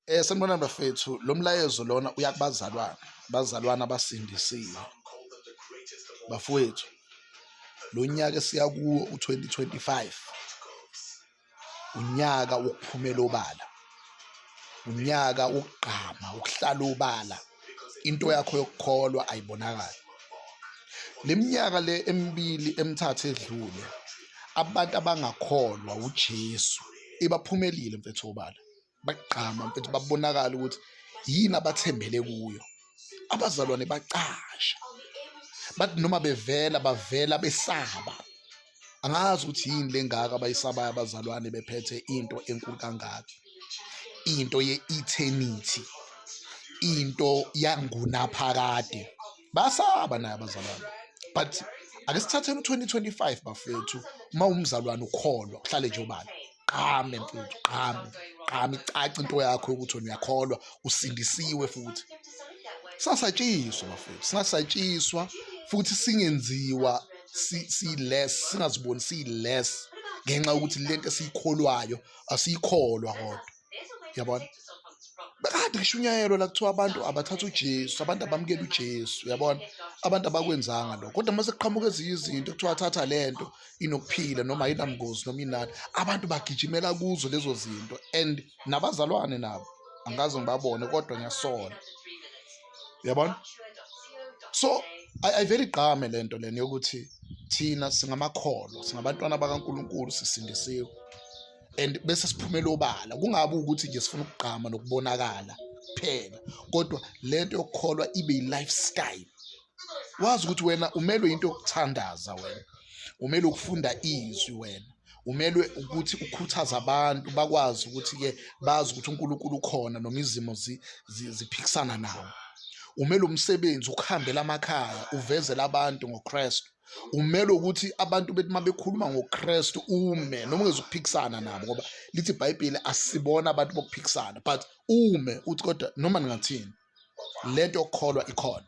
Eh sanibona bafethu lo mlayezo lona uya kubazalwana bazalwana abasindisiwe bafowethu lo nyaka esiya kuwo u-2025 unyaka wokuphumela obala unyaka wokugqama ukuhlala obala into yakho yokukholwa ayibonakali le minyaka le emibili emithathu edlule abantu abangakholwa uJesu ibaphumelile mfethu obala bagqama mfethu babonakala ukuthi yini abathembele kuyo abazalwane bacasha bathi noma bevela bavela besaba angazi ukuthi yini lengaka abayisabayo abazalwane bephethe into enkulu kangaka into ye-eternity into yangunaphakade basaba naye abazalwane but ake sithatheni u-2025 bafethu uma umzalwane ukholwa uhlale nje obala gqame mfwethu gqame gqame icace into yakho yokuthi wena uyakholwa usindisiwe futhi sasatshiswa bafethu singasatshiswa futhi singenziwa si-less singaziboni si-less ngenxa yokuthi le nto esiyikholwayo asiyikholwa kodwa yabona bekade ngishunyayelwa la kuthiwa abantu abathatha ujesu abantu abamukela ujesu yabona abantu abakwenzanga lokho kodwa uma sekuqhamuka ezinye izinto kuthiwa thatha le nto inokuphila noma ayinamngozi noma inani abantu bagijimela kuzo lezo zinto and nabazalwane nabo angikaze ngibabone kodwa ngiyasola yabona so ayivele igqame le nto lena yokuthi thina singamakholwa singabantwana bakankulunkulu sisindisiwe and bese siphumela obala kungabi ukuthi nje sifuna ukugqama nokubonakala kuphela kodwa lento yokukholwa ibe yi-lifestyle wazi ukuthi wena umelwe into yokuthandaza wena umelwe ukufunda izwi wena umelwe ukuthi ukhuthaze abantu bakwazi ukuthi-ke bazi ukuthi unkulunkulu ukhona noma izimo ziphikisana nawo umele umsebenzi ukuhambela amakhaya uvezela abantu ngokristu umelwe ukuthi abantu bethi uma bekhuluma ngokristu ume noma ungezukuphikisana nabo ngoba lithi ibhayibheli asibona abantu bokuphikisana but ume uthi kodwa noma ningathini lento okholwa ikhona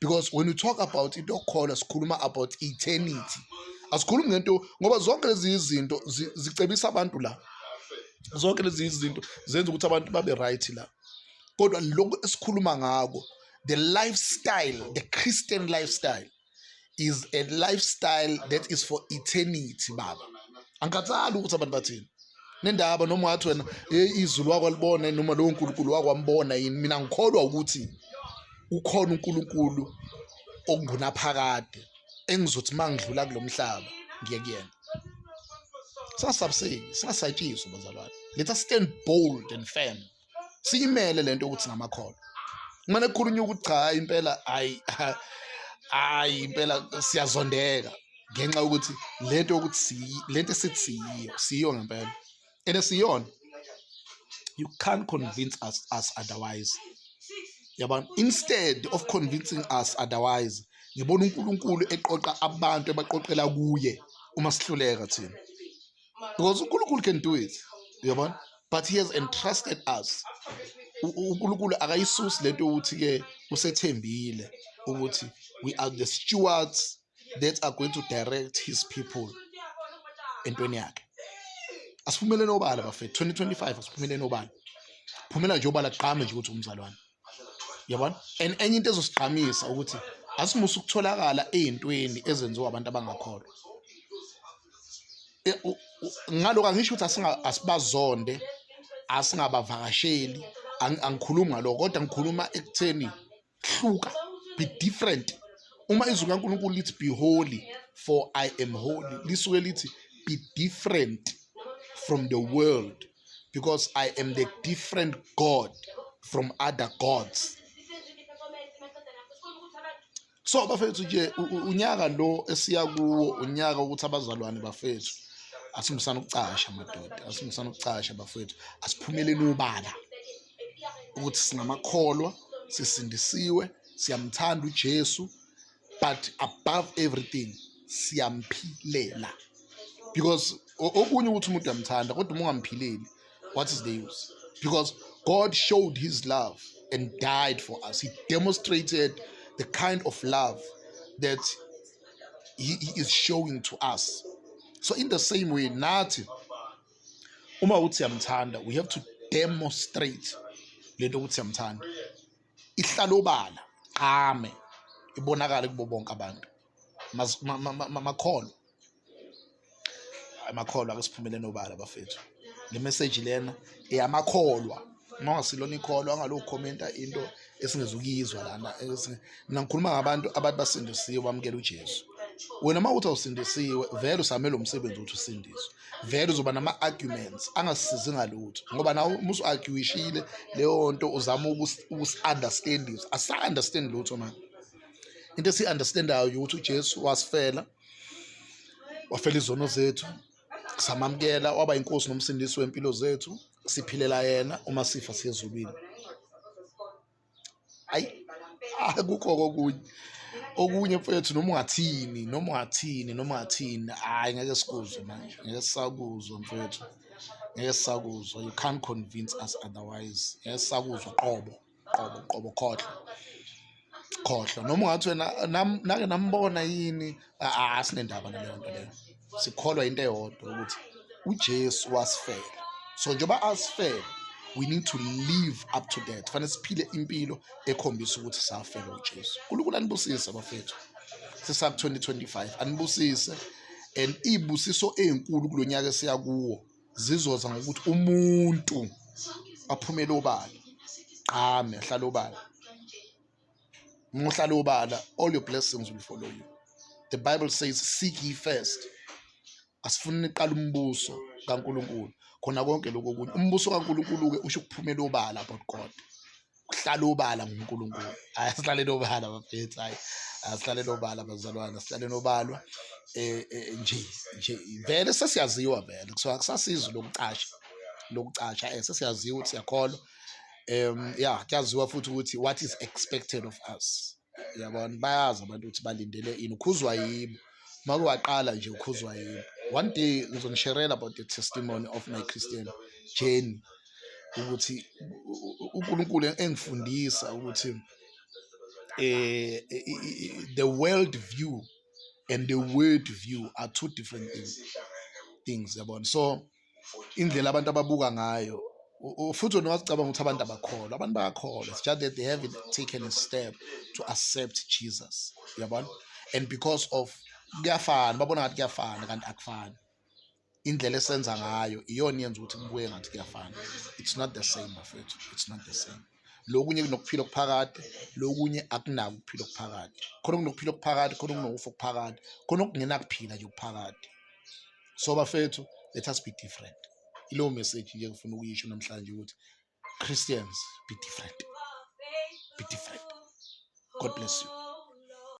because when you talk about into okholwa sikhuluma about eternity asikhulumi ngento ngoba zonke lezi izinto zicebisa abantu la zonke lezi izinto zenza ukuthi abantu babe right la kodwa lokho esikhuluma ngako the lifestyle the christian lifestyle is a lifestyle that is for eternity baba angikhathali ukuthi abantu bathini nendaba noma ungathi wena hey izulu wakwalibona noma lowo nkulunkulu wakwambona yini mina ngikholwa ukuthi ukhona unkulunkulu ongunaphakade engizothi uma ngidlula kulo mhlaba ngiye kuyena singasabuseki singasatshiswa bazalwane let us stand bold and firm siyimele lento ukuthi ngamakholwa kumane kukhulunywe ukuthi cha impela hayi hayi impela siyazondeka ngenxa yokuthi lento yokuthi lento esithi siyiyo siyiyo ngempela and siyona you can't convince us, us otherwise yabona instead of convincing us otherwise ngibona uNkulunkulu eqoqa abantu ebaqoqela kuye uma sihluleka thina because uNkulunkulu can do it uyabona but he has entrusted us uNkulunkulu akayisusi lento ukuthi ke usethembile ukuthi we are the stewards that are going to direct his people entweni yakhe asiphumeleni obala bafethu 2025 asiphumeleni obala phumela nje obala qame nje ukuthi umzalwane yabona and enye into ezosigqamisa ukuthi asimusa ukutholakala ey'ntweni ezenziwa abantu abangakholwa ngalokho angisho ukuthi asibazonde asingabavakasheli angikhulumi ngalokho kodwa ngikhuluma ekutheni hluka be different uma izwi kaNkulunkulu lithi be holy for I am holy lisuke lithi be different from the world because I am the different God from other gods. So bafethu nje unyaka lo esiya kuwo unyaka ukuthi abazalwane bafethu asimusana ukucasha madoda asimusana ukucasha bafethu asiphumeleni ubala ukuthi singamakholwa sisindisiwe siyamthanda uJesu but above everything siyamphilela because okunye ukuthi umuntu uyamthanda kodwa uma ungamphileli what is the use because god showed his love and died for us he demonstrated the kind of love that he, he is showing to us so in the same way nathi uma uthi yamthanda we have to demonstrate lento ukuthi yamthanda ihlale obala qame ibonakale kubo bonke abantu makholwa amakholwa ake siphumele nobala bafethu le message lena eyamakholwa uma ungasilona ikholwa angalokhu khomenta into esingezukuyizwa lana mina ngikhuluma ngabantu abantu basindisiwe bamukela ujesu wena uma uthi awusindisiwe vele usamele umsebenzi ukuthi usindiswe vele uzoba nama-arguments angasisizi ngalutho ngoba nawe uma usu-arguishile leyo nto uzama ukusi-understand asa-understand lutho manje into esiyi-understandayo ukuthi ujesu wasifela wafela izono zethu samamukela waba inkosi nomsindisi wempilo zethu siphilela yena uma sifa siyezulwini ayi akukho ah, kokunye okunye mfethu noma ungathini noma ungathini noma ungathini hayi ngeke sikuzwe manje ngeke sisakuzwa mfethu ngeke sisakuzwa you can't convince us otherwise ngeke sisakuzwa qobo qobo qobo khohlwa khohlwa noma ungathi wena nake nambona yini asinendaba ah, ah, naleyo nto leyo sikholwa into eyodwa ukuthi ujesu wasifela so njengoba asifela we need to live up to that fanele siphile impilo ekhombisa ukuthi safela ujesu nkulunkulu anibusise bafethu sisab 2025 anibusise and iy'busiso ey'nkulu kulo nyaka esiya kuwo zizoza ngokuthi umuntu aphumele obala qame ahlale obala uma uhlala ubala all your blessings will follow you the bible says seek ye first asifuni niqala umbuso kaNkuluNkulu khona konke lokho okunye umbuso kaNkuluNkulu-ke usho ukuphumela obala about God kuhlala obala ngoNkulunkulu hayi asihlaleni obala bafethu hayi asihlaleni obala bazalwane asihlaleni obalwa eh, eh nje nje vele sesiyaziwa vele kusona akusasizi lokucasha lokucasha eh sesiyaziwa ukuthi siyakholwa um ya kuyaziwa futhi ukuthi what is expected of us yabona bayazi abantu ukuthi balindele ini ukhuzwa yibo make waqala nje ukhuzwa yibo one day ngizonisherela about the testimony of my christian journey ukuthi uNkulunkulu engifundisa ukuthi eh the world view and the word view are two different things things yabona so indlela abantu ababuka ngayo futhi wena wacabanga ukuthi abantu abakholwa abantu bayakholwa it's just that they haven't taken a step to accept jesus yabona and because of kuyafana babona ngathi kuyafana kanti akufani indlela esenza ngayo iyona yenza ukuthi kubuye ngathi kuyafana it's not the same bafethu it's not the same lokunye kunokuphila okuphakade lokunye akunako ukuphila okuphakade khona okunokuphila okuphakade khona okunokufa okuphakade khona okungenakuphila nje okuphakade so bafethu let us be different ilowo message nje ngifuna ukuyisho namhlanje ukuthi christians be different be different god bless you